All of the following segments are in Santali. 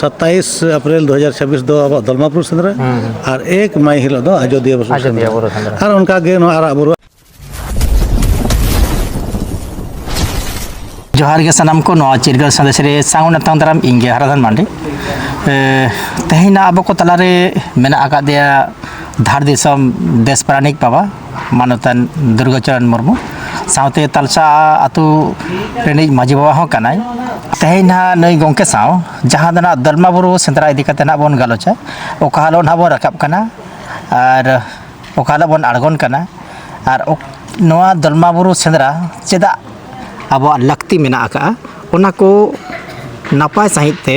ᱥᱟᱛᱟᱭᱤᱥ ᱮᱯᱨᱤᱞ ᱫᱩ ᱦᱟᱡᱟᱨ ᱪᱷᱟᱵᱤᱥ ᱫᱚ ᱟᱵᱚᱣᱟᱜ ᱫᱚᱞᱢᱟ ᱵᱩᱨᱩ ᱥᱮᱸᱫᱽᱨᱟ ᱟᱨ ᱮᱠ ᱢᱟᱭ ᱦᱤᱞᱳᱜ ᱫᱚ ᱟᱡᱚᱫᱤᱭᱟᱹ ᱵᱩᱨᱩ ᱟᱡᱚᱫᱤᱭᱟᱹ ᱵᱩᱨᱩ ᱥᱮᱸᱫᱽᱨᱟ ᱟᱨ ᱚᱱᱠᱟᱜᱮ ᱱᱚᱣᱟ ᱟᱨᱟᱜ ᱵᱩᱨᱩ ᱡᱚᱦᱟᱨ ᱜᱮ ᱥᱟᱱᱟᱢ ᱠᱚ ᱱᱚᱣᱟ ᱪᱤᱨᱜᱟᱹᱞ ᱥᱟᱸᱫᱮᱥ ᱨᱮ ᱥᱟᱶ ᱱᱟᱛᱟᱝ ᱫᱟᱨᱟᱢ ᱤᱧ ᱜᱮ ᱦᱟᱨᱟᱫᱷᱟᱱ ᱢᱟᱱᱰᱤ ᱛᱮᱦᱮᱧ ᱟᱵᱚ ᱠᱚ ᱛᱟᱞᱟᱨᱮ ᱢᱮᱱᱟᱜ ᱟᱠᱟᱫᱮᱭᱟ ᱫᱷᱟᱲ ᱫᱤᱥᱚᱢ ᱫᱮᱥ ᱯᱟᱨᱟᱱᱤᱠ ᱵᱟᱵᱟ ᱢᱟᱱᱚᱛᱟᱱ ᱫᱩᱨᱜᱟᱪᱚᱨᱚᱱ ᱢᱩᱨᱢᱩ ᱥᱟᱶᱛᱮ ᱛᱟᱞᱥᱟ ᱟᱛᱳ ᱨᱤᱱᱤᱡ ᱢᱟᱺᱡᱷᱤ ᱵᱟᱵᱟ ᱦᱚᱸ ᱠᱟᱱᱟᱭ ᱛᱮᱦᱮᱧ ᱱᱟᱦᱟᱜ ᱱᱩᱭ ᱜᱚᱢᱠᱮ ᱥᱟᱶ ᱡᱟᱦᱟᱸ ᱫᱚ ᱱᱟᱦᱟᱜ ᱫᱚᱞᱢᱟ ᱵᱩᱨᱩ ᱥᱮᱸᱫᱽᱨᱟ ᱤᱫᱤ ᱠᱟᱛᱮᱫ ᱱᱟᱦᱟᱜ ᱵᱚᱱ ᱜᱟᱞᱚᱪᱟ ᱚᱠᱟ ᱦᱤᱞᱳᱜ ᱱᱟᱦᱟᱜ ᱵᱚᱱ ᱨᱟᱠᱟᱵ ᱠᱟᱱᱟ ᱟᱨ ᱚᱠᱟ ᱦᱤᱞᱳᱜ ᱵᱚᱱ ᱟᱬᱜᱚᱱ ᱠᱟᱱᱟ ᱟᱨ ᱱᱚᱣᱟ ᱫᱚᱞᱢᱟ ᱵᱩᱨᱩ ᱥᱮᱸᱫᱽᱨᱟ ᱪᱮᱫᱟᱜ ᱟᱵᱚᱣᱟᱜ ᱞᱟᱹᱠᱛᱤ ᱢᱮᱱᱟᱜ ᱟᱠᱟᱫᱼᱟ ᱚᱱᱟ ᱠᱚ ᱱᱟᱯᱟᱭ ᱥᱟᱺᱦᱤᱡ ᱛᱮ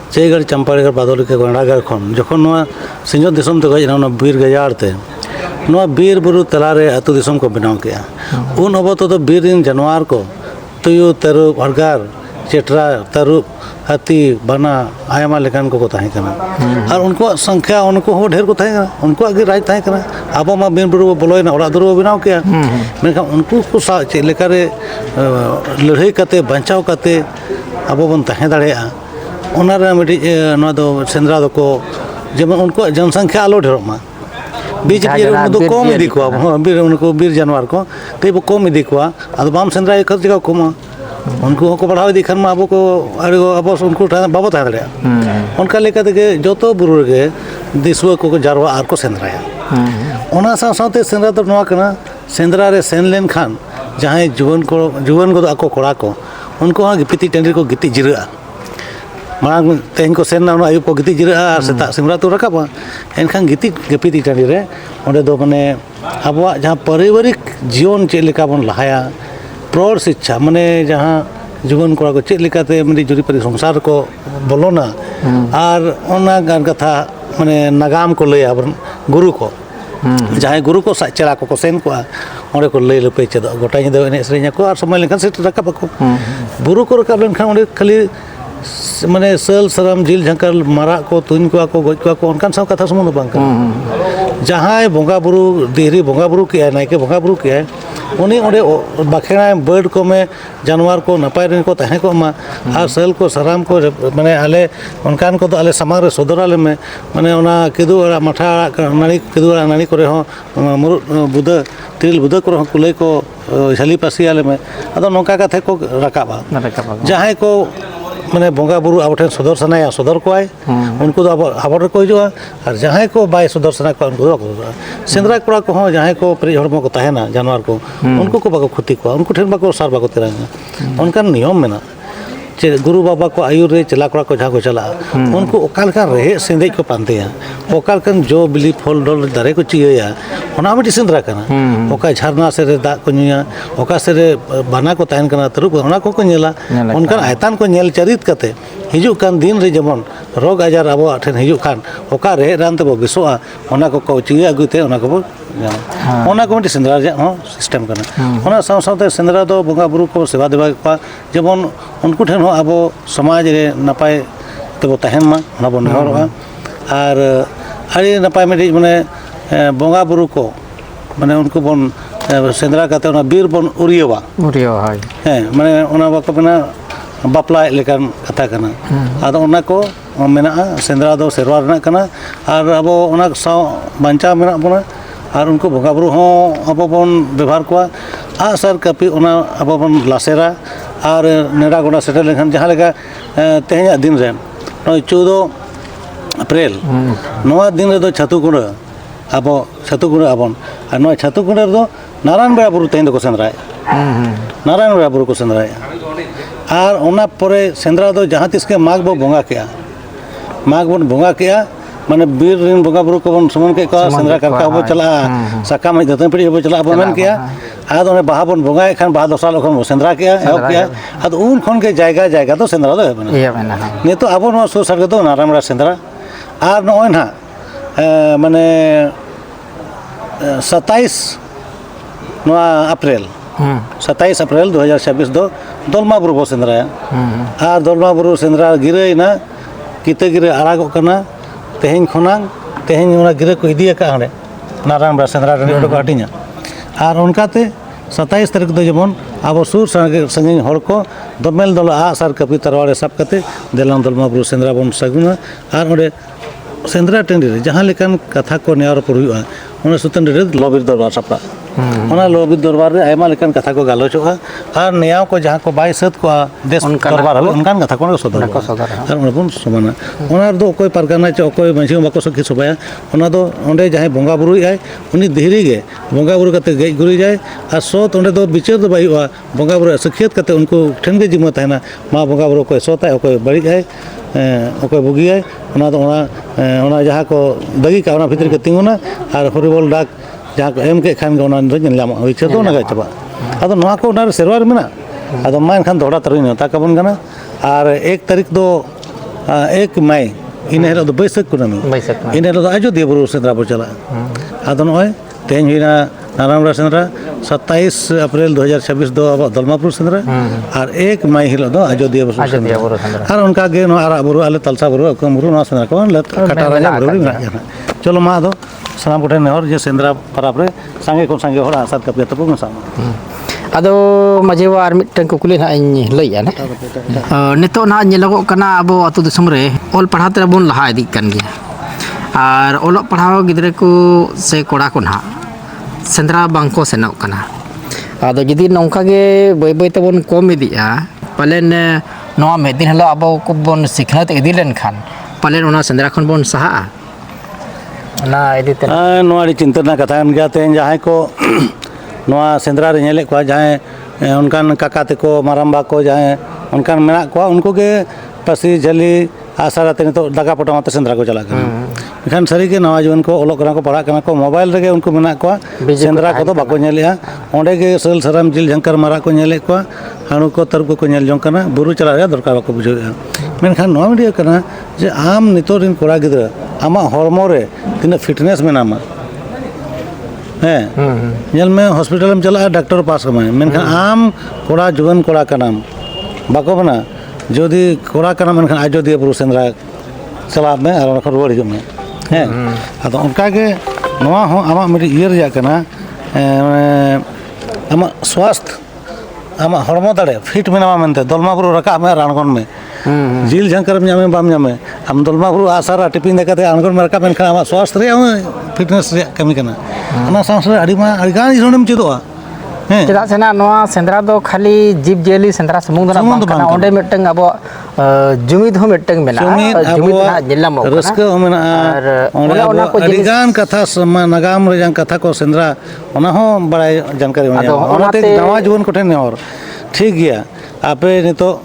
ᱪᱮᱭᱜᱟᱲ ᱪᱟᱢᱯᱟᱲᱜᱟᱲ ᱵᱟᱫᱚᱞᱤᱠᱟ ᱜᱚᱸᱰᱟᱜᱟᱲ ᱠᱷᱚᱱ ᱡᱚᱠᱷᱚᱱ ᱱᱚᱣᱟ ᱥᱤᱧᱚᱛ ᱫᱤᱥᱚᱢ ᱛᱮᱠᱚ ᱦᱮᱡ ᱮᱱᱟ ᱚᱱᱟ ᱵᱤᱨ ᱜᱟᱡᱟᱲ ᱛᱮ ᱱᱚᱣᱟ ᱵᱤᱨ ᱵᱩᱨᱩ ᱛᱟᱞᱟᱨᱮ ᱟᱹᱛᱩ ᱫᱤᱥᱚᱢ ᱠᱚ ᱵᱮᱱᱟᱣ ᱠᱮᱜᱼᱟ ᱩᱱ ᱚᱵᱚᱛᱚ ᱫᱚ ᱵᱤᱨ ᱨᱮᱱ ᱡᱟᱱᱣᱟᱨ ᱠᱚ ᱛᱩᱭᱩ ᱛᱟᱹᱨᱩᱵ ᱦᱟᱰᱜᱟᱨ ᱪᱮᱴᱨᱟ ᱛᱟᱹᱨᱩᱵ ᱦᱟᱹᱛᱤ ᱵᱟᱱᱟ ᱟᱭᱢᱟ ᱞᱮᱠᱟᱱ ᱠᱚᱠᱚ ᱛᱟᱦᱮᱸ ᱠᱟᱱᱟ ᱟᱨ ᱩᱱᱠᱩᱣᱟᱜ ᱥᱚᱝᱠᱷᱟ ᱩᱱᱠᱩ ᱦᱚᱸ ᱰᱷᱮᱨ ᱠᱚ ᱛᱟᱦᱮᱸ ᱠᱟᱱᱟ ᱩᱱᱠᱩᱣᱟᱜ ᱜᱮ ᱨᱟᱡᱽ ᱛᱟᱦᱮᱸ ᱠᱟᱱᱟ ᱟᱵᱚ ᱢᱟ ᱵᱤᱨ ᱵᱩᱨᱩ ᱵᱚ ᱵᱚᱞᱚᱭᱮᱱᱟ ᱚᱲᱟᱜ ᱫᱩᱣᱟᱹᱨ ᱵᱚ ᱵᱮᱱᱟᱣ ᱠᱮᱜᱼᱟ ᱢᱮᱱᱠᱷᱟᱱ ᱩᱱᱠᱩ ᱠᱚ ᱥᱟᱶ ᱪᱮᱫ ᱞᱮᱠᱟᱨᱮ ᱞᱟᱹᱲᱦᱟᱹᱭ ᱠᱟᱛᱮᱫ ᱵᱟᱧᱪᱟᱣ ᱠᱟᱛᱮᱫ ᱟᱵᱚ ᱵᱚᱱ ᱛᱟᱦᱮᱸ ᱫᱟᱲᱮᱭᱟᱜᱼᱟ ᱚᱱᱟ ᱨᱮ ᱢᱤᱫᱴᱤᱡ ᱱᱚᱣᱟ ᱫᱚ ᱥᱮᱸᱫᱽᱨᱟ ᱫᱚᱠᱚ ᱡᱮᱢᱚᱱ ᱩᱱᱠᱩᱣᱟᱜ ᱡᱚᱱᱥᱚᱝᱠᱷᱟ ᱟᱞᱚ ᱰᱷᱮᱨᱚᱜ ᱢᱟ ᱵᱤᱨ ᱡᱟᱦᱟᱸ ᱡᱤᱵᱽᱼᱡᱤᱭᱟᱹᱞᱤ ᱡᱟᱦᱟᱸ ᱩᱱᱠᱩ ᱫᱚ ᱵᱤᱨ ᱠᱚᱢ ᱡᱤᱭᱟᱹᱞᱤ ᱤᱫᱤ ᱠᱚᱣᱟ ᱠᱚ, ᱦᱚᱸ ᱵᱤᱨ ᱩᱱᱠᱩ ᱵᱤᱨ ᱡᱟᱱᱣᱟᱨ ᱠᱚ ᱠᱟᱹᱡ ᱵᱚ ᱠᱚᱢ ᱤᱫᱤ ᱠᱚᱣᱟ ᱟᱫᱚ ᱵᱟᱢ ᱥᱮᱸᱫᱽᱨᱟᱭ ᱠᱷᱟᱱ ᱪᱤᱠᱟᱹ ᱠᱚᱢᱟ ᱩᱱᱠᱩ ᱦᱚᱸᱠᱚ ᱵᱟᱲᱦᱟᱣ ᱤᱫᱤ ᱠᱷᱟᱱ ᱢᱟ ᱟᱵᱚ ᱠᱚ ᱟᱹᱰᱤ ᱟᱵᱚ ᱩᱱᱠᱩ ᱴᱷᱮᱱ ᱵᱟᱵᱚ ᱛᱟᱦᱮᱸ ᱫᱟᱲᱮᱭᱟᱜᱼᱟ ᱚᱱᱠᱟ ᱞᱮᱠᱟ ᱛᱮᱜᱮ ᱡᱚᱛᱚ ᱵᱩᱨᱩ ᱨᱮᱜᱮ ᱫᱤᱥᱩᱣᱟᱹ ᱠᱚᱠᱚ ᱡᱟᱨᱣᱟᱜ ᱟᱨ ᱠᱚ ᱥᱮᱸᱫᱽᱨᱟᱭᱟ ᱚᱱᱟ ᱥᱟᱶ ᱥᱟᱶᱛᱮ ᱥᱮᱸᱫᱽᱨᱟ ᱫᱚ ᱱᱚᱣᱟ ᱠᱟᱱᱟ ᱥᱮᱸᱫᱽᱨᱟ ᱨᱮ ᱥᱮᱱ ᱞᱮᱱᱠᱷᱟᱱ ᱡᱟᱦᱟᱸᱭ ᱡᱩᱣᱟᱹᱱ ᱠᱚ ᱡᱩᱣᱟᱹᱱ ᱜᱚᱫᱚᱜ ᱟᱠᱚ ᱠᱚᱲᱟ ᱠᱚ ᱩᱱᱠᱩ ᱦᱚᱸ ᱜᱤᱯᱤᱛᱤᱡ ᱴᱟᱺᱰᱤ ᱨᱮᱠᱚ ᱜᱤᱛᱤᱡ ᱡᱤᱨᱟᱹᱜᱼᱟ ᱢᱟᱲᱟᱝ ᱛᱮᱦᱮᱧ ᱠᱚ ᱥᱮᱱ ᱮᱱᱟ ᱚᱱᱟ ᱟᱹᱭᱩᱵ ᱠᱚ ᱜᱤᱛᱤᱡ ᱡᱤᱨᱟᱹᱜᱼᱟ ᱟᱨ ᱥᱮᱛᱟᱜ ᱥᱤᱢ ᱨᱟᱜ ᱛᱮᱠᱚ ᱨᱟᱠᱟᱵᱼᱟ ᱮᱱᱠᱷᱟᱱ ᱜᱤᱛᱤᱡ ᱜᱤᱯᱤᱛᱤᱡ ᱴᱟᱺᱰᱤ ᱨᱮ ᱚᱸᱰᱮ ᱫᱚ ᱢᱟᱱᱮ ᱟᱵᱚᱣᱟᱜ ᱡᱟᱦᱟᱸ ᱯᱟᱨᱤᱵᱟᱨᱤᱠ ᱡᱤᱭᱚᱱ ᱪᱮᱫ ᱞᱮᱠᱟ ᱵᱚᱱ ᱞᱟᱦᱟᱭᱟ ᱯᱨᱚᱲ ᱥᱤᱪᱪᱷᱟ ᱢᱟᱱᱮ ᱡᱟᱦᱟᱸ ᱡᱩᱣᱟᱹᱱ ᱠᱚᱲᱟ ᱠᱚ ᱪᱮᱫ ᱞᱮᱠᱟᱛᱮ ᱢᱤᱫᱴᱤᱡ ᱡᱩᱨᱤᱯᱟᱹᱨᱤ ᱥᱚᱝᱥᱟᱨ ᱨᱮᱠᱚ ᱵᱚᱞᱚᱱᱟ ᱟᱨ ᱚᱱᱟ ᱜᱟᱱ ᱠᱟᱛᱷᱟ ᱢᱟᱱᱮ ᱱᱟᱜᱟᱢ ᱠᱚ ᱞᱟᱹᱭᱟ ᱟᱵᱚᱨᱮᱱ ᱜᱩᱨᱩ ᱠᱚ ᱡᱟᱦᱟᱸᱭ ᱜᱩᱨᱩ ᱠᱚ ᱥᱟᱜ ᱪᱮᱲᱟ ᱠᱚᱠᱚ ᱥᱮᱱ ᱠᱚᱜᱼᱟ ᱚᱸᱰᱮ ᱠᱚ ᱞᱟᱹᱭ ᱞᱟᱹᱯᱟᱹᱭ ᱪᱮᱫᱚᱜᱼᱟ ᱜᱚᱴᱟ ᱧᱤᱫᱟᱹ ᱮᱱᱮᱡ ᱥᱮᱨᱮᱧ ᱟᱠᱚ ᱟᱨ ᱥᱚᱢᱚᱭ ᱞᱮᱱᱠᱷᱟᱱ ᱥᱮᱴᱮᱨ ᱨᱟᱠᱟᱵ ᱟᱠᱚ ᱵᱩᱨᱩ ᱠᱚ ᱨᱟᱠᱟᱵ ᱞᱮᱱᱠᱷᱟᱱ ᱚᱸᱰᱮ ᱠᱷᱟᱹᱞᱤ ᱢᱟᱱᱮ ᱥᱟᱹᱞ ᱥᱟᱨᱟᱢ ᱡᱤᱞ ᱡᱷᱟᱝᱠᱟᱨ ᱢᱟᱨᱟᱜ ᱠᱚ ᱛᱩᱧ ᱠᱚᱣᱟ ᱠᱚ ᱜᱚᱡ ᱠᱚᱣᱟ ᱠᱚ ᱚᱱᱠᱟᱱ ᱥᱟᱶ ᱠᱟᱛᱷᱟ ᱥᱩᱢᱩᱝ ᱫᱚ ᱵᱟᱝ ᱠᱟᱱᱟ ᱡᱟᱦᱟᱸᱭ ᱵᱚᱸᱜᱟ ᱵᱩᱨᱩ ᱫᱷᱤᱨᱤ ᱵᱚᱸᱜᱟ ᱵᱩᱨᱩ ᱠᱮᱜᱼᱟᱭ ᱱᱟᱭᱠᱮ ᱵᱚᱸᱜᱟ ᱵᱩᱨᱩ ᱠᱮᱜᱼᱟᱭ ᱩᱱᱤ ᱚᱸᱰᱮ ᱵᱟᱠᱷᱮᱲᱟᱭ ᱵᱟᱹᱰ ᱠᱚᱢᱮ ᱡᱟᱱᱣᱟᱨ ᱠᱚ ᱱᱟᱯᱟᱭ ᱨᱮ ᱠᱚ ᱛᱟᱦᱮᱸ ᱠᱚᱜ ᱢᱟ ᱟᱨ ᱥᱟᱹᱞ ᱠᱚ ᱥᱟᱨᱟᱢ ᱠᱚ ᱢᱟᱱᱮ ᱟᱞᱮ ᱚᱱᱠᱟᱱ ᱠᱚᱫᱚ ᱟᱞᱮ ᱥᱟᱢᱟᱝ ᱨᱮ ᱥᱚᱫᱚᱨ ᱟᱞᱮ ᱢᱮ ᱢᱟᱱᱮ ᱚᱱᱟ ᱠᱮᱫᱩ ᱟᱲᱟᱜ ᱢᱟᱴᱷᱟ ᱟᱲᱟᱜ ᱱᱟᱹᱲᱤ ᱠᱮᱫᱩ ᱟᱲᱟᱜ ᱱᱟᱹᱲᱤ ᱠᱚᱨᱮ ᱦᱚᱸ ᱢᱩᱨᱩᱫ ᱵᱩᱫᱟᱹ ᱛᱤᱨᱤᱞ ᱵᱩᱫᱟᱹ ᱠᱚᱨᱮ ᱦᱚᱸ ᱠᱩᱞᱟᱹᱭ ᱠᱚ ᱡᱷᱟᱹᱞᱤ ᱯᱟᱹᱥᱤ ᱟᱞᱮ ᱢᱮ ᱟᱫᱚ ᱱᱚᱝᱠᱟ ᱠᱟᱛᱮᱫ ᱠᱚ ᱨᱟᱠᱟᱵᱟ ᱡᱟᱦᱟᱸᱭ ᱠᱚ ᱢᱟᱱᱮ ᱵᱚᱸᱜᱟ ᱵᱩᱨᱩ ᱟᱵᱚ ᱴᱷᱮᱱ ᱥᱚᱫᱚᱨ ᱥᱟᱱᱟᱭᱟ ᱥᱚᱫᱚᱨ ᱠᱚᱣᱟᱭ ᱩᱱᱠᱩ ᱫᱚ ᱟᱵᱚ ᱟᱵᱚ ᱨᱮᱠᱚ ᱦᱤᱡᱩᱜᱼᱟ ᱟᱨ ᱡᱟᱦᱟᱸᱭ ᱠᱚ ᱵᱟᱭ ᱥᱚᱫᱚᱨ ᱥᱟᱱᱟ ᱠᱚᱣᱟ ᱩᱱᱠᱩ ᱫᱚ ᱵᱟᱠᱚ ᱥᱚᱫᱚᱨᱟ ᱥᱮᱸᱫᱽᱨᱟ ᱠᱚᱲᱟ ᱠᱚᱦᱚᱸ ᱡᱟᱦᱟᱸᱭ ᱠᱚ ᱯᱮᱨᱮᱡ ᱦᱚᱲᱢᱚ ᱠᱚ ᱛᱟᱦᱮᱱᱟ ᱡᱟᱱᱣᱟᱨ ᱠᱚ ᱩᱱᱠᱩ ᱠᱚ ᱵᱟᱠᱚ ᱠᱷᱚᱛᱤ ᱠᱚᱣᱟ ᱩᱱᱠᱩ ᱴᱷᱮᱱ ᱵᱟᱠᱚ ᱥᱟᱨ ᱵᱟᱠᱚ ᱛᱮᱨᱟᱝᱟ ᱚᱱᱠᱟᱱ ᱱᱤᱭᱚᱢ ᱢᱮᱱᱟᱜᱼᱟ ᱪᱮᱫ ᱜᱩᱨᱩ ᱵᱟᱵᱟ ᱠᱚ ᱟᱹᱭᱩᱨ ᱨᱮ ᱪᱮᱞᱟ ᱠᱚᱲᱟ ᱠᱚ ᱡᱟᱦᱟᱸ ᱠᱚ ᱪᱟᱞᱟᱜᱼᱟ ᱩᱱᱠᱩ ᱚᱠᱟ ᱞᱮᱠᱟ ᱨᱮᱦᱮᱫ ᱥᱮᱸᱫᱮᱡ ᱠᱚ ᱯᱟᱱᱛᱮᱭᱟ ᱚᱠᱟ ᱞᱮᱠᱟᱱ ᱡᱚ ᱵᱤᱞᱤ ᱯᱷᱚᱞ ᱰᱚᱞ ᱫᱟᱨᱮ ᱠᱚ ᱪᱤᱭᱟᱹᱭᱟ ᱚᱱᱟ ᱦᱚᱸ ᱢᱤᱫᱴᱤᱡ ᱥᱮᱸᱫᱽᱨᱟ ᱠᱟᱱᱟ ᱚᱠᱟ ᱡᱷᱟᱨᱱᱟ ᱥᱮᱫ ᱨᱮ ᱫᱟᱜ ᱠᱚ ᱧᱩᱭᱟ ᱚᱠᱟ ᱥᱮᱫ ᱨᱮ ᱵᱟᱱᱟ ᱠᱚ ᱛᱟᱦᱮᱱ ᱠᱟᱱᱟ ᱛᱟᱹᱨᱩᱵ ᱠᱚ ᱚᱱᱟ ᱠᱚᱠᱚ ᱧᱮᱞᱟ ᱧᱮᱞ ᱟᱠᱟᱫᱟ᱾ ᱚᱱᱠᱟᱱ ᱟᱭᱛᱟᱱ ᱠᱚ ᱧᱮᱞ ᱪᱟᱹᱨᱤᱛ ᱠᱟᱛᱮ ᱦᱤᱡᱩᱜ ᱠᱟᱱ ᱫᱤᱱ ᱨᱮ ᱡᱮᱢᱚᱱ ᱨᱳᱜᱽ ᱟᱡᱟᱨ ᱟᱵᱚᱣᱟᱜ ᱴᱷᱮᱱ ᱦᱤᱡᱩᱜ ᱠᱷᱟᱱ ᱚᱠᱟ ᱨᱮᱦᱮᱫ ᱨᱟᱱ ᱛᱮᱵᱚ ᱵᱮᱥᱚᱜᱼᱟ ᱚᱱᱟ ᱠᱚᱠᱚ ᱚᱪᱚᱜᱮ ᱟᱹᱜᱩᱭ ᱛᱮ ᱚᱱᱟ ᱠᱚᱵᱚ ᱧᱟᱢᱟ ᱦᱮᱸ᱾ ᱚᱱᱟ ᱠᱚ ᱢᱤᱫᱴᱮᱱ ᱥᱮᱸᱫᱽᱨᱟ ᱨᱮᱭᱟᱜ ᱦᱚᱸ ᱥᱤᱥᱴᱮᱢ ᱠᱟᱱᱟ ᱦᱮᱸ᱾ ᱚᱱᱟ ᱥᱟᱶ ᱥᱟᱶᱛᱮ ᱥᱮᱸᱫᱽᱨᱟ ᱫᱚ ᱵᱚᱸᱜᱟ ᱵᱩᱨᱩ ᱠᱚ ᱥᱮᱵᱟ ᱫᱮᱵᱟ ᱠᱚᱣᱟ ᱡᱮᱢᱚᱱ ᱩᱱᱠᱩ ᱴᱷᱮᱱ ᱦᱚᱸ ᱟᱵᱚ ᱥᱚᱢᱟᱡᱽ ᱨᱮ ᱱᱟᱯᱟᱭ ᱛᱮᱵᱚ ᱛᱟᱦᱮᱱ ᱢᱟ ᱚᱱᱟ ᱵᱚᱱ ᱱᱮᱦᱚᱨᱚᱜᱼᱟ ᱟᱨ ᱟᱹᱰᱤ ᱱᱟᱯᱟᱭ ᱢᱤᱫᱴᱤᱡ ᱢᱟᱱᱮ ᱮᱸ, ᱵᱚᱸᱜᱟ ᱵᱩᱨᱩ ᱠᱚ ᱢᱟᱱᱮ ᱩᱱᱠᱩ ᱵᱚᱱ ᱮᱸ, ᱥᱮᱸᱫᱽᱨᱟ ᱠᱟᱛᱮ ᱚᱱᱟ ᱵᱤᱨ ᱵᱚᱱ ᱩᱨᱤᱭᱟᱹᱣᱟ ᱩᱨᱤᱭᱟᱹ ᱦᱳᱭ ᱦᱮᱸ ᱢᱟᱱᱮ ᱚᱱᱟ ᱵᱟᱠᱚ ᱢᱮᱱᱟ ᱵᱟᱯᱞᱟᱭᱮᱫ ᱞᱮᱠᱟᱱ ᱠᱟᱛᱷᱟ ᱠᱟᱱᱟ ᱟᱫᱚ ᱚᱱᱟ ᱠᱚ ᱢᱮᱱᱟᱜᱼᱟ ᱥᱮᱸᱫᱽᱨᱟ ᱫᱚ ᱥᱮᱨᱣᱟ ᱨᱮᱱᱟᱜ ᱠᱟᱱᱟ ᱟᱨ ᱟᱵᱚ ᱚᱱᱟ ᱥᱟᱶ ᱵᱟᱧᱪᱟᱣ ᱢᱮᱱᱟᱜ ᱵᱚᱱᱟ ᱟᱨ ᱩᱱᱠᱩ ᱵᱚᱸᱜᱟ ᱵᱳᱨᱳ ᱦᱚᱸ ᱟᱵᱚ ᱵᱚᱱ ᱵᱮᱵᱷᱟᱨ ᱠᱚᱣᱟ ᱟᱜ ᱥᱟᱨ ᱠᱟᱹᱯᱤ ᱚᱱᱟ ᱟᱵᱚ ᱵᱚᱱ ᱞᱟᱥᱮᱨᱟ ᱟᱨ ᱱᱮᱰᱟ ᱜᱚᱰᱟ ᱥᱮᱴᱮᱨ ᱞᱮᱱᱠᱷᱟᱱ ᱡᱟᱦᱟᱸ ᱞᱮᱠᱟ ᱛᱮᱦᱮᱧᱟᱜ ᱫᱤᱱ ᱨᱮ ᱱᱚᱜᱼᱚᱭ ᱪᱳᱫᱚ ᱮᱯᱨᱤᱞ ᱱᱚᱣᱟ ᱫᱤᱱ ᱨᱮᱫᱚ ᱪᱷᱟᱹᱛᱩ ᱜᱩᱰᱟᱹ ᱟᱵᱚ ᱪᱷᱟᱹᱛᱩ ᱜᱩᱰᱟᱹᱜ ᱟᱵᱚᱱ ᱟᱨ ᱱᱚᱣᱟ ᱪᱷᱟᱹᱛᱩ ᱜᱩᱰᱟᱹ ᱨᱮᱫᱚ ᱱᱟᱨᱟᱭᱚᱱ ᱵᱮᱲᱟ ᱵᱩᱨᱩ ᱛᱮᱦᱮᱧ ᱫᱚᱠᱚ ᱥᱮᱸᱫᱽᱨᱟᱭᱮᱫ ᱱᱟᱨᱟᱭᱚᱱ ᱵᱮᱲᱟ ᱵᱩᱨᱩ ᱠᱚ ᱥᱮᱸᱫᱽᱨᱟᱭᱮᱫ ᱟᱨ ᱚᱱᱟ ᱯᱚᱨᱮ ᱥᱮᱸᱫᱽᱨᱟ ᱫᱚ ᱡᱟᱦᱟᱸ ᱛᱤᱥ ᱜᱮ ᱢᱟᱜᱽ ᱵᱚ ᱵᱚᱸᱜᱟ ᱠᱮᱜᱼᱟ ᱢᱟᱜᱽ ᱵᱚᱱ ᱵᱚᱸᱜᱟ ᱠᱮᱜᱼᱟ ᱢᱟᱱᱮ ᱵᱤᱨ ᱨᱮᱱ ᱵᱚᱸᱜᱟ ᱵᱩᱨᱩ ᱠᱚᱵᱚᱱ ᱥᱩᱢᱟᱱ ᱠᱮᱫ ᱠᱚᱣᱟ ᱥᱮᱸᱫᱽᱨᱟ ᱠᱟᱨᱠᱟ ᱵᱚ ᱪᱟᱞᱟᱜᱼᱟ ᱥᱟᱠᱟᱢ ᱦᱮᱡ ᱫᱟᱹᱛᱟᱹᱱᱤ ᱯᱮᱴᱮᱡ ᱵᱚ ᱪᱟᱞᱟᱜᱼᱟ ᱵᱚ ᱢᱮᱱ ᱠᱮᱜᱼᱟ ᱟᱫᱚ ᱚᱱᱮ ᱵᱟᱦᱟ ᱵᱚᱱ ᱵᱚᱸᱜᱟᱭᱮᱫ ᱠᱷᱟᱱ ᱵᱟᱦᱟ ᱫᱚᱥᱟᱨ ᱦᱤᱞᱳᱜ ᱠᱷᱚᱱ ᱵᱚ ᱥᱮᱸᱫᱽᱨᱟ ᱠᱮᱜᱼᱟ ᱮᱦᱚᱵ ᱠᱮᱜᱼᱟ ᱟᱫᱚ ᱩᱱ ᱠᱷᱚᱱ ᱜᱮ ᱡᱟᱭᱜᱟ ᱡᱟᱭᱜᱟ ᱫᱚ ᱥᱮᱸᱫᱽᱨᱟ ᱫᱚ ᱮᱦᱚᱵ ᱮᱱᱟ ᱱᱤᱛᱚᱜ ᱟᱵᱚ ᱱᱚᱣᱟ ᱥᱩᱨ ᱥᱟᱰᱜᱮ ᱫᱚ ᱱᱟᱨᱟᱭᱚᱱ ᱵᱮᱲᱟ ᱥᱮᱸᱫᱽᱨᱟ ᱟᱨ ᱱᱚᱜᱼᱚᱭ ᱱᱟᱦᱟᱜ ᱢᱟᱱᱮ ᱥᱟᱛᱟᱭᱤᱥ ᱱᱚᱣᱟ ᱮᱯᱨᱤᱞ ᱥᱟᱛᱟᱭᱤᱥ ᱮᱯᱨᱤᱞ ᱫᱩ ᱦᱟᱡᱟᱨ ᱪᱷᱟᱵᱵᱤᱥ ᱫᱚ ᱫᱚᱞᱢᱟ ᱵᱩᱨᱩ ᱵᱚ ᱥᱮᱸᱫᱽᱨᱟᱭᱟ ᱟᱨ ᱫᱚᱞᱢᱟ ᱵᱩᱨᱩ ᱥᱮᱸᱫᱽᱨᱟ ᱜᱤᱨᱟᱹᱭᱮᱱᱟ ᱠᱤᱛᱟᱹ ᱜᱤᱨᱟᱹ ᱟᱲᱟᱜᱚᱜ ᱠᱟᱱᱟ ᱛᱮᱦᱮᱧ ᱠᱷᱚᱱᱟᱝ ᱛᱮᱦᱮᱧ ᱚᱱᱟ ᱜᱤᱨᱟᱹ ᱠᱚ ᱤᱫᱤ ᱟᱠᱟᱫᱼᱟ ᱚᱸᱰᱮ ᱱᱟᱨᱟᱭᱚᱱ ᱵᱮᱲᱟ ᱥᱮᱸᱫᱽᱨᱟ ᱴᱟᱺᱰᱤ ᱚᱸᱰᱮ ᱠᱚ ᱦᱟᱹᱴᱤᱧᱟ ᱟᱨ ᱚᱱᱠᱟᱛᱮ ᱥᱟᱛᱟᱭᱤᱥ ᱛᱟᱹᱨᱤᱠᱷ ᱫᱚ ᱡᱮᱢᱚᱱ ᱟᱵᱚ ᱥᱩᱨ ᱥᱟᱺᱜᱤᱧ ᱦᱚᱲ ᱠᱚ ᱫᱚᱢᱮᱞ ᱫᱚᱞ ᱟᱜᱼᱥᱟᱨ ᱠᱟᱹᱯᱤ ᱛᱟᱨᱣᱟᱲᱮ ᱥᱟᱵ ᱠᱟᱛᱮ ᱫᱮᱞᱟᱝ ᱫᱚᱞᱢᱟ ᱵᱩᱨᱩ ᱥᱮᱸᱫᱽᱨᱟ ᱵᱚᱱ ᱥᱟᱹᱜᱩᱱᱟ ᱟᱨ ᱚᱸᱰᱮ ᱥᱮᱸᱫᱽᱨᱟ ᱴᱟᱺᱰᱤ ᱨᱮ ᱡᱟᱦᱟᱸ ᱞᱮᱠᱟᱱ ᱠᱟᱛᱷᱟ ᱠᱚ ᱱᱮᱭᱟᱣ ᱨᱚᱯᱚᱲ ᱦᱩᱭᱩᱜᱼᱟ ᱚᱱᱟ ᱥᱩᱛᱟᱹᱱ ᱴᱟᱺᱰᱤ ᱨᱮ ᱞᱚᱵᱤᱨ ᱫᱚᱨᱵᱟᱨ ᱥᱟᱯᱲᱟᱜ ᱚᱱᱟ ᱞᱚᱵᱤᱨ ᱫᱚᱨᱵᱟᱨ ᱨᱮ ᱟᱭᱢᱟ ᱞᱮᱠᱟᱱ ᱠᱟᱛᱷᱟ ᱠᱚ ᱜᱟᱞᱚᱪᱚᱜᱼᱟ ᱟᱨ ᱱᱮᱭᱟᱣ ᱠᱚ ᱡᱟᱦᱟᱸ ᱠᱚ ᱵᱟᱭ ᱥᱟᱹᱛ ᱠᱚᱜᱼᱟ ᱫᱮᱥ ᱚᱱᱠᱟᱱᱟᱜ ᱫᱚᱨᱵᱟᱨ ᱦᱟᱹᱵᱤᱡ ᱠᱚ- ᱚᱱᱠᱟᱱ ᱠᱟᱛᱷᱟ ᱠᱚ ᱚᱸᱰᱮ ᱠᱚ ᱚᱸᱰᱮ ᱠᱚ ᱥᱚᱫᱚᱨᱟ ᱥᱚᱫᱚᱨᱟ᱾ ᱟᱨ ᱚᱸᱰᱮ ᱵᱚᱱ ᱥᱚᱢᱟᱱᱟ ᱚᱱᱟ ᱨᱮᱫᱚ ᱚᱠᱚᱭ ᱯᱟᱨᱜᱟᱱᱟ ᱪᱚ ᱚᱠᱚᱭ ᱢᱟᱺᱡᱷᱤ ᱦᱚᱸ ᱵᱟᱠᱚ ᱥᱟᱹᱠᱷᱤ ᱥᱚᱵᱷᱟᱭᱟ ᱚᱱᱟ ᱫᱚ ᱚᱸᱰᱮ ᱡᱟᱦᱟᱸᱭ ᱵᱚᱸᱜᱟ ᱵᱩᱨᱩᱭᱮᱫ ᱟᱭ ᱩᱱᱤ ᱫᱷᱤᱨᱤ ᱜᱮ ᱵᱚᱸᱜᱟ ᱵᱩᱨᱩ ᱠᱟᱛᱮ ᱜᱮᱡ ᱜᱩᱨᱤᱡᱟᱭ ᱟᱨ ᱥᱚᱛ ᱚᱸᱰᱮ ᱫᱚ ᱵᱤᱪᱟᱹᱨ ᱫᱚ ᱵᱟᱭ ᱦᱩᱭᱩᱜᱼᱟ ᱵᱚᱸᱜᱟ ᱵᱩᱨᱩ ᱥᱟᱹᱠᱷᱭᱟᱹᱛ ᱠᱟᱛᱮ ᱩᱱᱠᱩ ᱴᱷᱮᱱ ᱜᱮ ᱡᱤᱢᱟᱹ ᱛᱟᱦᱮᱱᱟ ᱢᱟ ᱵᱚᱸᱜᱟ ᱵᱩᱨᱩ ᱚᱠᱚᱭ ᱥᱚᱛᱟᱭ ᱚᱠᱚᱭ ᱵᱟᱹᱲᱤᱡᱟᱭ ᱚᱠᱚᱭ ᱵᱩᱜᱤᱭᱟᱭ ᱚᱱᱟ ᱫᱚ ᱚᱱᱟ ᱚᱱᱟ ᱡᱟᱦᱟᱸ ᱠᱚ ᱫᱟᱹᱜᱤ ᱠᱟᱜᱼᱟ ᱚᱱᱟ ᱵᱷᱤᱛᱨᱤ ᱨᱮᱜᱮ ᱛᱤᱸᱜᱩᱱᱟ ᱟᱨ ᱦᱚᱨᱤᱵᱚᱞ ᱰᱟᱠ ᱡᱟᱦᱟᱸ ᱠᱚ ᱮᱢ ᱠᱮᱫ ᱠᱷᱟᱱ ᱜᱮ ᱚᱱᱟ ᱫᱚ ᱧᱮᱞ ᱧᱟᱢᱚᱜᱼᱟ ᱤᱪᱪᱷᱟᱹ ᱫᱚ ᱚᱱᱟ ᱜᱮ ᱪᱟᱵᱟᱜᱼᱟ ᱟᱫᱚ ᱱᱚᱣᱟ ᱠᱚ ᱚᱱᱟ ᱨᱮ ᱥᱮᱨᱣᱟ ᱨᱮ ᱢᱮᱱᱟᱜᱼᱟ ᱟᱫᱚ ᱢᱟ ᱮᱱᱠᱷᱟᱱ ᱫᱚᱦᱲᱟ ᱛᱮᱞᱤᱧ ᱱᱮᱣᱛᱟ ᱠᱟᱵᱚᱱ ᱠᱟᱱᱟ ᱟᱨ ᱮᱠ ᱛᱟᱹᱨᱤᱠᱷ ᱫᱚ ᱮᱠ ᱢᱮᱭ ᱤᱱᱟᱹ ᱦᱤᱞᱳᱜ ᱫᱚ ᱵᱟᱹᱭᱥᱟᱹᱠᱷ ᱠᱩᱱᱟᱹᱢᱤ ᱤᱱᱟᱹ ᱦᱤᱞᱳᱜ ᱫᱚ ᱟᱡᱳᱫᱤᱭᱟᱹ ᱵᱩᱨᱩ ᱥᱮᱸᱫᱽᱨᱟ ᱵᱚᱱ ᱪᱟᱞᱟᱜᱼᱟ ᱟᱫᱚ ᱱᱚᱜᱼᱚᱭ ᱛᱮᱦᱮᱧ ᱦᱩᱭᱱᱟ ᱱᱟᱨᱟᱢᱲᱟ ᱥᱮᱸᱫᱽᱨᱟ ᱥᱟᱛᱟᱭᱤᱥ ᱮᱯᱨᱤᱞ ᱫᱩ ᱦᱟᱡᱟᱨ ᱪᱷᱟᱵᱵᱤᱥ ᱫᱚ ᱟᱵᱚᱣᱟᱜ ᱫᱚᱞᱢᱟᱯᱩᱨ ᱥᱮᱸᱫᱽᱨᱟ ᱟᱨ ᱮᱠ ᱢᱟᱭ ᱦᱤᱞᱳᱜ ᱫᱚ ᱟᱡᱚᱫᱤᱭᱟᱹ ᱵᱩᱨᱩ ᱟᱡᱚᱫᱤᱭᱟᱹ ᱵᱩᱨᱩ ᱥᱮᱸᱫᱽᱨᱟ ᱥᱮᱸᱫᱽᱨᱟ ᱟᱨ ᱚᱱᱠᱟ ᱜᱮ ᱱᱚᱣᱟ ᱟᱨᱟᱜ ᱵᱩᱨᱩ ᱟᱞᱮ ᱛᱟᱞᱥᱟ ᱵᱩᱨᱩ ᱟᱠᱚᱢ ᱵᱩᱨᱩ ᱱᱚᱣᱟ ᱥᱮᱸᱫᱽᱨᱟ ᱠᱚ ᱞᱮ ᱠᱟᱴᱟ ᱨᱟᱡᱟ ᱢᱮᱱᱟᱜ ᱵᱩᱨᱩ ᱟᱠᱟᱫ ᱢᱮᱱᱟᱜ ᱜᱮᱭᱟ ᱜᱮᱭᱟ ᱱᱟᱦᱟᱜ ᱪᱚᱞᱚ ᱢᱟ ᱟᱫᱚ ᱥᱟᱱᱟᱢ ᱠᱚᱴᱷᱮᱱ ᱱᱮᱦᱚᱨ ᱡᱮ ᱥᱮᱸᱫᱽᱨᱟ ᱯᱟᱨᱟᱵᱽ ᱨᱮ ᱥᱟᱸᱜᱮ ᱠᱷᱚᱱ ᱥᱟᱸᱜᱮ ᱦᱚᱲ ᱟᱜᱼᱥᱟᱨ ᱠᱟᱹᱯᱤ ᱟᱛᱮᱫ ᱵᱚᱱ ᱢᱮᱥᱟᱜ ᱢᱟ ᱟᱫᱚ ᱢᱟᱺᱡᱷᱤ ᱵᱟᱵᱟ ᱟᱨ ᱢᱤᱫᱴᱟᱝ ᱠᱩᱠᱞᱤ ᱱᱟᱦᱟᱜ ᱤᱧ ᱞᱟᱹᱭᱮᱫᱼᱟ ᱱᱟᱦᱟᱜ ᱱᱤᱛᱚᱜ ᱱᱟᱦᱟᱜ ᱧᱮᱞᱚᱜᱚᱜ ᱠᱟᱱᱟ ᱟᱵᱚ ᱟᱛᱳ ᱫᱤᱥᱚᱢ ᱨᱮ ᱚᱞ ᱯᱟᱲᱦᱟᱣ ᱛᱮ ᱵᱚᱱ ᱞᱟᱦᱟ ᱤᱫᱤᱜ ᱠᱟᱱ ᱜᱮᱭᱟ ᱟᱨ ᱚᱞᱚᱜ ᱯᱟᱲᱦᱟᱣ ᱜᱤᱫᱽᱨᱟᱹ ᱠᱚ ᱥᱮ ᱠᱚᱲᱟ ᱠᱚ ᱱᱟᱦᱟᱜ ᱥᱮᱸᱫᱽᱨᱟ ᱵᱟᱝ ᱠᱚ ᱥᱮᱱᱚᱜ ᱠᱟᱱᱟ ᱟᱫᱚ ᱡᱩᱫᱤ ᱱᱚᱝᱠᱟ ᱜᱮ ᱵᱟᱹᱭ ᱵᱟᱹᱭ ᱛᱮᱵᱚᱱ ᱠᱚᱢ ᱤᱫᱤᱜᱼᱟ ᱯᱟᱞᱮᱱ ᱱᱚᱣᱟ ᱢᱤᱫ ᱫᱤᱱ ᱦᱤᱞᱳᱜ ᱟᱵᱚ ᱠᱚᱵᱚᱱ ᱥᱤᱠᱷᱱᱟᱹᱛ ᱤᱫᱤ ᱞᱮᱱᱠᱷᱟᱱ ᱯᱟᱞᱮᱱ ᱚᱱᱟ ᱥᱮᱸᱫᱽᱨᱟ ᱠᱷᱚᱱ ᱵᱚᱱ ᱥᱟᱦᱟᱜᱼᱟ ᱚᱱᱟ ᱤᱫᱤ ᱛᱮ ᱱᱚᱣᱟ ᱟᱹᱰᱤ ᱪᱤᱱᱛᱟᱹ ᱨᱮᱱᱟᱜ ᱠᱟᱛᱷᱟ ᱠᱟᱱ ᱜᱮᱭᱟ ᱛᱮᱦᱮᱧ ᱡᱟᱦᱟᱸᱭ ᱠᱚ ᱱᱚᱣᱟ ᱥᱮᱸᱫᱽᱨᱟ ᱨᱮ ᱧᱮᱞᱮᱫ ᱠᱚᱣᱟ ᱡᱟᱦᱟᱸᱭ ᱚᱱᱠᱟᱱ ᱠᱟᱠᱟ ᱛᱮᱠᱚ ᱢᱟᱨᱟᱝᱵᱟ ᱠᱚ ᱡᱟᱦᱟᱸᱭ ᱚᱱᱠᱟᱱ ᱢᱮᱱᱟᱜ ᱠᱚᱣᱟ ᱩᱱᱠᱩ ᱜᱮ ᱯᱟᱹᱥᱤ ᱡᱷᱟᱹᱞᱤ ᱟᱥᱟᱨ ᱟᱛᱮ ᱱᱤᱛᱚᱜ ᱫᱟᱠᱟ ᱯᱚᱴᱟᱢ ᱟᱛᱮ ᱥᱮᱸᱫᱽᱨᱟ ᱠᱚ ᱪᱟᱞᱟᱜ ᱠᱟᱱᱟ ᱮᱱᱠᱷᱟᱱ ᱥᱟᱹᱨᱤᱜᱮ ᱱᱟᱣᱟ ᱡᱩᱣᱟᱹᱱ ᱠᱚ ᱚᱞᱚᱜ ᱠᱟᱱᱟ ᱠᱚ ᱯᱟᱲᱦᱟᱜ ᱠᱟᱱᱟ ᱠᱚ ᱢᱳᱵᱟᱭᱤᱞ ᱨᱮᱜᱮ ᱩᱱᱠᱩ ᱢᱮᱱᱟᱜ ᱠᱚᱣᱟ ᱥᱮᱸᱫᱽᱨᱟ ᱠᱚᱫᱚ ᱵᱟᱠᱚ ᱧᱮᱞᱮᱜᱼᱟ ᱚᱸᱰᱮ ᱜᱮ ᱥᱟᱹᱞ ᱥᱟᱨᱟᱢ ᱡᱤᱞ ᱡᱷᱟᱝᱠᱟᱨ ᱢᱟᱨᱟᱜ ᱠᱚ ᱧᱮᱞᱮᱫ ᱠᱚᱣᱟ ᱦᱟᱹᱬᱩ ᱠᱚ ᱛᱟᱹᱨᱩᱵ ᱠᱚᱠᱚ ᱧᱮᱞ ᱡᱚᱝ ᱠᱟᱱᱟ ᱵᱩᱨᱩ ᱪᱟᱞᱟᱜ ᱨᱮᱭᱟᱜ ᱫᱚᱨᱠᱟᱨ ᱵᱟᱠᱚ ᱵᱩᱡᱷᱟᱹᱣᱮᱜᱼᱟ ᱢᱮᱱᱠᱷᱟᱱ ᱱᱚᱣᱟ ᱢᱤᱰᱤᱭᱟ ᱠᱟᱱᱟ ᱡᱮ ᱟᱢ ᱱᱤᱛᱚᱜ ᱨᱮᱱ ᱠᱚᱲᱟ ᱜᱤᱫᱽᱨᱟᱹ ᱟᱢᱟᱜ ᱦᱚᱲᱢᱚ ᱨᱮ ᱛᱤᱱᱟᱹᱜ ᱯᱷᱤᱴᱱᱮᱥ ᱢᱮᱱᱟᱢᱟ ᱦᱮᱸ ᱧᱮᱞ ᱢᱮ ᱦᱚᱥᱯᱤᱴᱟᱞᱮᱢ ᱪᱟᱞᱟᱜᱼᱟ ᱰᱟᱠᱴᱚᱨ ᱯᱟᱥ ᱟᱢᱟᱭ ᱢᱮᱱᱠᱷᱟᱱ ᱟᱢ ᱠᱚᱲᱟ ᱡᱩᱣᱟᱹᱱ ᱠᱚᱲᱟ ᱠᱟᱱᱟᱢ ᱵᱟᱠᱚ ᱢᱮᱱᱟ ᱡᱩᱫᱤ ᱠᱚᱲᱟ ᱠᱟᱱᱟᱢ ᱢᱮᱱᱠᱷᱟᱱ ᱟᱡᱚᱫᱤᱭᱟᱹ ᱵᱩᱨᱩ ᱥᱮᱸᱫᱽᱨᱟ ᱪᱟᱞᱟᱜ ᱢᱮ ᱟᱨ ᱚᱸᱰᱮ ᱠᱷᱚᱱ ᱨᱩᱣᱟᱹᱲ ᱦᱤᱡᱩᱜ ᱢᱮ ᱦᱮᱸ ᱟᱫᱚ ᱚᱱᱠᱟᱜᱮ ᱱᱚᱣᱟ ᱦᱚᱸ ᱟᱢᱟᱜ ᱢᱤᱫᱴᱤᱡ ᱤᱭᱟᱹ ᱨᱮᱭᱟᱜ ᱠᱟᱱᱟ ᱮᱸ, ᱢᱟᱱᱮ ᱟᱢᱟᱜ ᱥᱣᱟᱥᱛᱷ ᱟᱢᱟᱜ ᱦᱚᱲᱢᱚ ᱫᱟᱲᱮ ᱯᱷᱤᱴ ᱢᱮᱱᱟᱢᱟ ᱢᱮᱱᱛᱮ ᱫᱚᱞᱢᱟ ᱵᱩᱨᱩ ᱨᱟᱠᱟᱵ ᱢᱮ ᱟᱨ ᱟᱬᱜᱚᱱ ᱢᱮ ᱡᱤᱞ ᱡᱷᱟᱝᱠᱟᱨᱮᱢ ᱧᱟᱢᱮ ᱵᱟᱢ ᱧᱟᱢᱮ ᱟᱢ ᱫᱚᱞᱢᱟ ᱵᱩᱨᱩ ᱟᱥᱟᱨ ᱟᱨ ᱴᱤᱯᱤᱝ ᱫᱮᱡ ᱠᱟᱛᱮ ᱟᱬᱜᱚᱱ ᱢᱮ ᱨᱟᱠᱟᱵ ᱢᱮᱱᱠᱷᱟᱱ ᱟᱢᱟᱜ ᱥᱟᱥᱛᱷ ᱨᱮᱭᱟᱜ ᱦᱚᱸ ᱯᱷᱤᱴᱱᱮᱥ ᱨᱮᱭᱟᱜ ᱠᱟᱹᱢᱤ ᱠᱟᱱᱟ ᱚᱱᱟ ᱥᱟᱶ ᱥᱟᱶ ᱟᱹᱰᱤ ᱢᱟ ᱟᱹᱰᱤ ᱜᱟᱱ ᱡᱤᱱᱤᱥᱮᱢ ᱪᱮᱫᱚᱜᱼᱟ ᱦᱮᱸ ᱪᱮᱫᱟᱜ ᱥᱮ ᱱᱟᱜ ᱱᱚᱣᱟ ᱥᱮᱸᱫᱽᱨᱟ ᱫᱚ ᱠᱷᱟᱹᱞᱤ ᱡᱤᱵᱽ ᱡᱤᱭᱟᱹᱞᱤ ᱥᱮᱸᱫᱽᱨᱟ ᱥᱩᱢᱩᱝ ᱫᱚ ᱱᱟᱜ ᱥᱩᱢᱩᱝ ᱵᱟᱝ ᱫᱚ ᱵᱟᱝ ᱠᱟᱱᱟ ᱠᱟᱱᱟ᱾ ᱚᱸᱰᱮ ᱢᱤᱫᱴᱟᱝ ᱟᱵᱚᱣᱟᱜ ᱟᱹ, ᱡᱩᱢᱤᱫ ᱦᱚᱸ ᱢᱤᱫᱴᱟᱝ ᱢᱮᱱᱟᱜᱼᱟ ᱡᱩᱢᱤᱫ ᱟᱨ ᱡᱩᱢᱤᱫ ᱟᱵᱚᱣᱟᱜ ᱱᱟᱜ ᱧᱮᱞ ᱧᱟᱢᱚᱜ ᱠᱟᱱᱟ ᱨᱟᱹᱥᱠᱟᱹ ᱦᱚᱸ ᱢᱮᱱᱟᱜᱼᱟ ᱟᱨ ᱚᱸᱰᱮ ᱚᱱᱮ ᱚᱱᱟ ᱟᱵᱚᱣᱟᱜ ᱠᱚ ᱟᱹᱰᱤ ᱡᱤᱱᱤᱥ ᱜᱟᱱ ᱠᱟᱛᱷᱟ ᱥᱚᱢᱟ- ᱱᱟᱜᱟᱢ ᱨᱮᱭᱟᱜ ᱠᱟᱛᱷᱟ ᱠᱚ ᱥᱮᱸᱫᱽᱨᱟ ᱚᱱᱟ ᱦᱚᱸ ᱵᱟᱲᱟᱭ ᱡᱟᱱᱠᱟᱨᱤ ᱵᱟᱝ ᱟᱫᱚ ᱧᱟᱢᱚᱜᱼᱟ ᱦᱚᱸᱜᱼᱚ ᱚᱱᱟᱛᱮ ᱱᱟᱛᱮ- ᱱᱟᱣᱟ ᱡᱩᱣᱟᱹᱱ ᱠᱚᱴᱷᱮᱱ ᱱᱮᱦᱚᱨ ᱴᱷᱤᱠ ᱜᱮᱭᱟ ᱟᱯᱮ ᱱᱤᱛᱚᱜ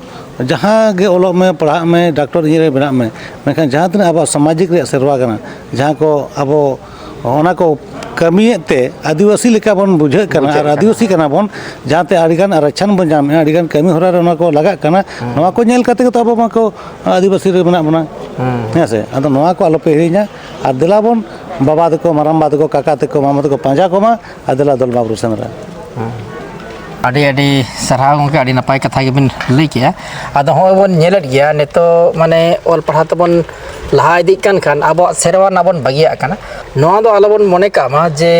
ᱡᱟᱦᱟᱸ ᱜᱮ ᱚᱞᱚᱜ ᱢᱮ ᱯᱟᱲᱦᱟᱜ ᱢᱮ ᱰᱟᱠᱛᱚᱨ ᱤᱧᱡᱤᱱᱤᱭᱟᱨ ᱵᱮᱱᱟᱜ ᱢᱮ ᱢᱮᱱᱠᱷᱟᱱ ᱡᱟᱦᱟᱸ ᱛᱤᱱᱟᱹᱜ ᱟᱵᱚᱣᱟᱜ ᱥᱟᱢᱟᱡᱤᱠ ᱨᱮᱭᱟᱜ ᱥᱮᱨᱣᱟ ᱠᱟᱱᱟ ᱡᱟᱦᱟᱸ ᱠᱚ ᱟᱵᱚ ᱚᱱᱟ ᱠᱚ ᱠᱟᱹᱢᱤᱭᱮᱫ ᱛᱮ ᱟᱹᱫᱤᱵᱟᱹᱥᱤ ᱞᱮᱠᱟ ᱵᱚᱱ ᱵᱩᱡᱷᱟᱹᱜ ᱠᱟᱱᱟ ᱵᱩᱡᱷᱟᱹᱜ ᱟᱨ ᱠᱟᱱᱟ᱾ ᱟᱹᱫᱤᱵᱟᱹᱥᱤ ᱠᱟᱱᱟ ᱵᱚᱱ ᱡᱟᱦᱟᱸᱛᱮ ᱟᱹᱰᱤᱜᱟᱱ ᱟᱨᱪᱷᱟᱱ ᱵᱚᱱ ᱧᱟᱢᱮᱫᱼᱟ ᱟᱹᱰᱤᱜᱟᱱ ᱠᱟᱹᱢᱤ ᱦᱚᱨᱟ ᱨᱮ ᱚᱱᱟ ᱠᱚ ᱞᱟᱜᱟᱜ ᱠᱟᱱᱟ ᱱᱚᱣᱟ ᱠᱚ ᱧᱮᱞ ᱠᱟᱛᱮ ᱜᱮᱛᱚ ᱟᱵᱚ ᱢᱟᱠᱚ ᱟᱹᱫᱤᱵᱟᱹᱥᱤ ᱨᱮ ᱢᱮᱱᱟᱜ ᱵᱚᱱᱟ ᱦᱮᱸ ᱥᱮ ᱟᱫᱚ ᱱᱚᱣᱟ ᱠᱚ ᱟᱞᱚᱯᱮ ᱦᱤᱲᱤᱧᱟ ᱟᱨ ᱫᱮᱞᱟ ᱵᱚᱱ ᱵᱟᱵᱟ ᱛᱟᱠᱚ ᱢᱟᱨᱟᱝ ᱵᱟ ᱛᱟᱠᱚ ᱠᱟᱠᱟ ᱛᱟᱠᱚ ᱢᱟᱢᱟ ᱛᱟᱠᱚ ᱯᱟᱸᱡᱟ ᱠᱚᱢᱟ ᱟᱨ ᱫᱮᱞᱟ ᱫᱚᱞᱢᱟ ᱵᱩᱨᱩ ᱥᱮᱸᱫᱽᱨᱟ ᱟᱹᱰᱤ ᱟᱹᱰᱤ ᱥᱟᱨᱦᱟᱣ ᱜᱚᱢᱠᱮ ᱟᱹᱰᱤ ᱱᱟᱯᱟᱭ ᱠᱟᱛᱷᱟ ᱜᱮᱵᱤᱱ ᱞᱟᱹᱭ ᱠᱮᱜᱼᱟ ᱟᱫᱚ ᱦᱚᱸᱜᱼᱚᱭ ᱵᱚᱱ ᱧᱮᱞᱮᱫ ᱜᱮᱭᱟ ᱱᱤᱛᱚᱜ ᱢᱟᱱᱮ ᱚᱞ ᱯᱟᱲᱦᱟᱣ ᱛᱮᱵᱚᱱ ᱞᱟᱦᱟ ᱤᱫᱤᱜ ᱠᱟᱱ ᱠᱷᱟᱱ ᱟᱵᱚᱣᱟᱜ ᱥᱮᱨᱣᱟ ᱨᱮᱱᱟᱜ ᱵᱚᱱ ᱵᱟᱹᱜᱤᱭᱟᱜ ᱠᱟᱱᱟ ᱱᱚᱣᱟ ᱫᱚ ᱟᱞᱚᱵᱚᱱ ᱢᱚᱱᱮ ᱠᱟᱜ ᱢᱟ ᱡᱮ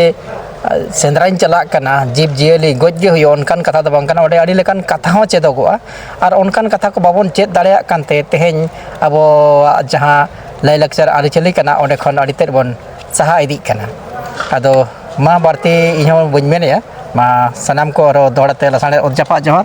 ᱥᱮᱸᱫᱽᱨᱟᱧ ᱪᱟᱞᱟᱜ ᱠᱟᱱᱟ ᱡᱤᱵᱽ ᱡᱤᱭᱟᱹᱞᱤ ᱜᱚᱡ ᱜᱮ ᱦᱩᱭᱩᱜᱼᱟ ᱚᱱᱠᱟᱱ ᱠᱟᱛᱷᱟ ᱫᱚ ᱵᱟᱝ ᱠᱟᱱᱟ ᱚᱸᱰᱮ ᱟᱹᱰᱤ ᱞᱮᱠᱟᱱ ᱠᱟᱛᱷᱟ ᱦᱚᱸ ᱪᱮᱫᱚᱜᱚᱜᱼᱟ ᱟᱨ ᱚᱱᱠᱟᱱ ᱠᱟᱛᱷᱟ ᱠᱚ ᱵᱟᱵᱚᱱ ᱪᱮᱫ ᱫᱟᱲᱮᱭᱟᱜ ᱠᱟᱱᱛᱮ ᱛᱮᱦᱮᱧ ᱟᱵᱚᱣᱟᱜ ᱡᱟᱦᱟᱸ ᱞᱟᱭᱼᱞᱟᱠᱪᱟᱨ ᱟᱹᱨᱤᱪᱟᱹᱞᱤ ᱠᱟᱱᱟ ᱚᱸᱰᱮ ᱠᱷᱚᱱ ᱟᱹᱰᱤ ᱛᱮᱫ ᱵᱚᱱ ᱥᱟᱦᱟ ᱤᱫᱤᱜ ᱠᱟᱱᱟ ᱟᱫᱚ ᱢᱟ ᱵᱟᱹᱲᱛᱤ ᱤᱧ ᱦᱚᱸ ᱵᱟᱹᱧ ᱢᱮᱱᱮᱫᱼᱟ ᱢᱟ ᱥᱟᱱᱟᱢ ᱠᱚ ᱟᱨᱚ ᱫᱚᱦᱲᱟᱛᱮ ᱞᱟᱥᱟᱬᱦᱮᱫ ᱚᱛ ᱡᱟᱯᱟᱜ ᱡᱚᱦᱟᱨ